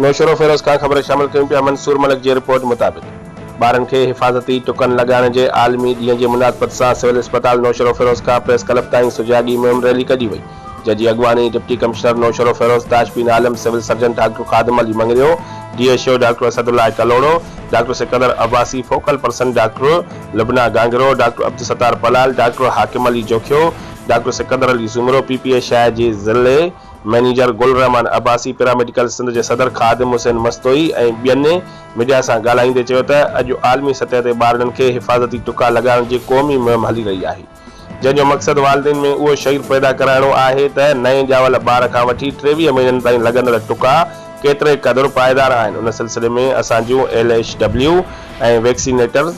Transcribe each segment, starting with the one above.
۾ شروفيروز کان خبرون شامل ڪيون پيا منصور ملڪ جي رپورٽ مطابق ٻارن کي حفاظتي ٽڪن لڳائڻ جي عالمي ڏينهن جي مناسبت سان سول اسپتال نوشهروفيروز کان پريس ڪلب تائين سجاڳي مهم ريلي ڪڍي وئي جنهن جي اڳواڻي deputy commissioner Naushahro Feroze Tashbeen Alam civil surgeon doctor Khadim Ali Mangrio D H O doctor Asadullah Kalhoro doctor Sikandar Abbasi focal person doctor Lubna Gangro doctor Abdul Sattar Palal doctor Hakim Ali Jokhio doctor Sikandar Ali Soomro P P A Shah جي ضلعي مئنيجر گل الرحمان عباسي پيراميڊيڪل سنڌ جي صدر خادم حسين مستوئي ۽ ٻين ميڊيا سان ڳالهائيندي چيو ته اڄ عالمي سطح تي ٻارڙن کي حفاظتي ٽڪا لڳائڻ جي قومي مهم هلي رهي آهي جنهن جو مقصد والدين ۾ اهو شعور پيدا ڪرائڻو آهي ته نئين ڄاول ٻار کان وٺي ٽيويهه مهينن تائين لڳندڙ ٽڪا ڪيتري قدر پائيدار آهن ان سلسلي ۾ اسان جون ايل ايڇ ڊبليو ۽ ويڪسينيٽر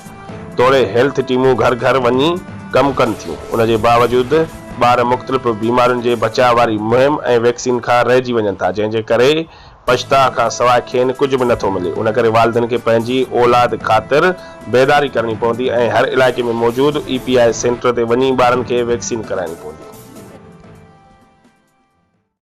توڙي هيلٿ ٽيمون گهر گهر وڃي ڪم ڪن ٿيون، ان جي باوجود ٻار مختلف بيمارين جي بچاء واري مهم ۽ ويڪسين کان رهجي وڃن ٿا، جنهن جي ڪري پڇتاء کان سواء کين ڪجهه به نٿو ملي، ان ڪري والدين کي پنهنجي اولاد خاطر بيداري ڪرڻي پوندي ۽ هر علائقي ۾ موجود اي پي آء سينٽر تي وڃي ٻارن کي ويڪسين ڪرائڻي پوندي.